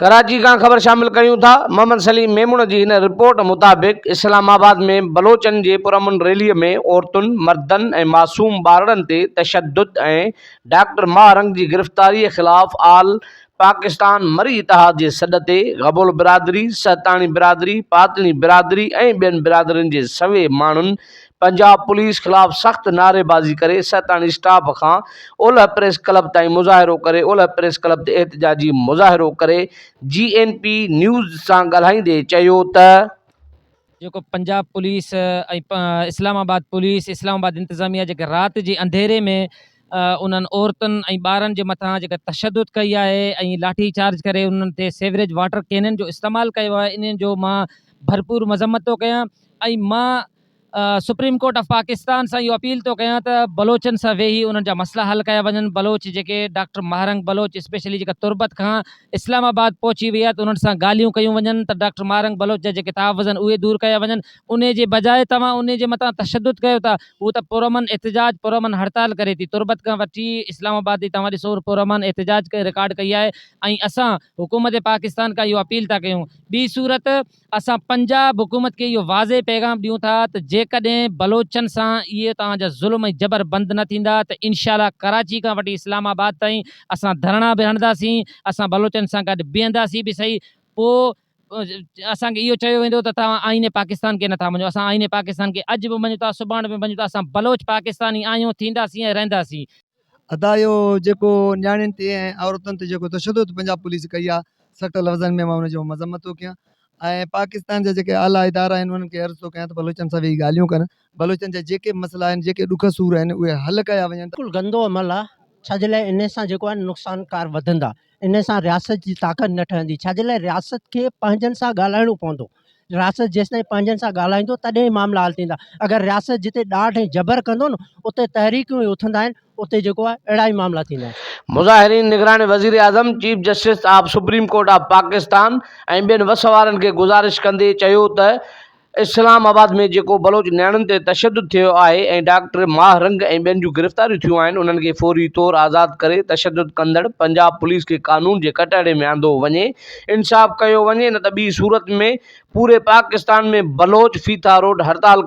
ڪراچي کان خبر شامل ڪريون ٿا محمد سليم ميمڻ جي هن رپورٽ مطابق اسلام آباد ۾ بلوچن جي پرامن ريلي ۾ عورتن مردن ۽ معصوم ٻارڙن تي تشدد ۽ ڊاڪٽر ماهه رنگ جي گرفتاري خلاف آل پاڪستان مري اتحاد جي سڏ تي غبول برادري سهتاڻي برادري پاتڻي برادري ۽ ٻين برادرين جي سوين ماڻهن پنجاب پوليس خلاف سخت نعريبازي ڪري سهتاڻي اسٽاپ کان اولهه پريس ڪلب تائين مظاهرو ڪري اولهه پريس ڪلب تي احتجاجي مظاهرو ڪري جي اين پي نيوز سان ڳالهائيندي چيو ته. جيڪو Punjab police ۽ Islamabad police Islamabad انتظاميه جيڪي رات جي انڌيري ۾ انهن عورتن ۽ ٻارن جي مٿان جيڪا تشدد ڪئي آهي ۽ لاٺي چارج ڪري انهن تي سيوريج واٽر ڪينن جو استعمال ڪيو آهي انهن جو مان ڀرپور مذمت ٿو ڪيان ۽ مان سپريم ڪورٽ آف پاڪستان سان اهو اپيل ٿو ڪيان ته بلوچن سان ويهي انهن جا مسئلا حل ڪيا وڃن، بلوچ جيڪي ڊاڪٽر مهارنگ بلوچ اسپيشلي جيڪا تربت کان اسلام آباد پهچي وئي آهي ته انهن سان ڳالهيون ڪيون وڃن ته ڊاڪٽر مهارنگ بلوچ جا جيڪي تحفظ آهن اهي دور ڪيا وڃن انهي جي بجاء توهان انهي جي متان تشدد ڪيو ٿا هو ته پرامن احتجاج پرامن هڙتال ڪري ٿي تربت کان وٺي اسلام آباد تائين توهان ڏسو پرامن احتجاج ڪري رڪارڊ ڪئي آهي ۽ اسان حڪومت پاڪستان کان اهو اپيل ٿا ڪيون ٻي صورت اسان پنجاب حڪومت کي اهو واضح پيغام ڏيون ٿا ته جيڪڏهن بلوچن سان اهي توهان جا ظلم ۽ جبر بند نه ٿيندا ته انشاء الله ڪراچي کان وٺي اسلام آباد تائين اسان ڌرڻا به هڻنداسين، اسان بلوچن سان گڏ بيهنداسين به سهي پوء اسان کي اهو چيو ويندو ته توهان آئين پاڪستان کي نٿا مڃو، اسان آئين پاڪستان کي اڄ به مڃون ٿا، سڀاڻ به مڃون ٿا، اسان بلوچ پاڪستاني آهيون، ٿينداسين ۽ رهنداسين. ادا اهو جيڪو نياڻين تي ۽ عورتن تي جيڪو تشدد پنجاب پوليس ڪئي آ سخت لفظن ۾ مان ان جو مذمت ٿو ڪيان ۽ پاڪستان جا جيڪي اعليٰ ادارا آهن انهن کي عرض ٿو ڪيان ته بلوچن سان ويهي ڳالهيون ڪن بلوچن جا جيڪي به مسئلا آهن جيڪي ڏک سور آهن اهي حل ڪيا وڃن. بلڪل گندو عمل آ ڇاجي لاء انهي سان جيڪو آهي نقصان ڪار وڌندا. ان سان رياست جي طاقت نه ٺهندي ڇاجي لاء رياست کي پنهنجن سان ڳالهائڻو پوندو رياست جيستائين پنهنجن سان ڳالهائيندو تڏهن ئي معاملا حل ٿيندا اگر رياست جتي ڏاڍ ۽ جبر ڪندو نه اتي تحريڪون ئي اٿندا آهن اتي جيڪو آهي اهڙا ئي معاملا ٿيندا آهن. مظاهرين نگران وزيراعظم، chief justice of supreme court of Pakistan ۽ ٻين وس وارن کي گذارش ڪندي چيو ته اسلام آباد ۾ جيڪو بلوچ نياڻين تي تشدد ٿيو آهي ۽ ڊاڪٽر ماهه رنگ ۽ ٻين جون گرفتاريون ٿيون آهن انهن کي فوري طور آزاد ڪري تشدد ڪندڙ پنجاب پوليس کي قانون جي ڪٽهڙي ۾ آندو وڃي انصاف ڪيو وڃي نه ته ٻي صورت ۾ پوري پاڪستان ۾ بلوچ ڦيٿا روڊ هڙتال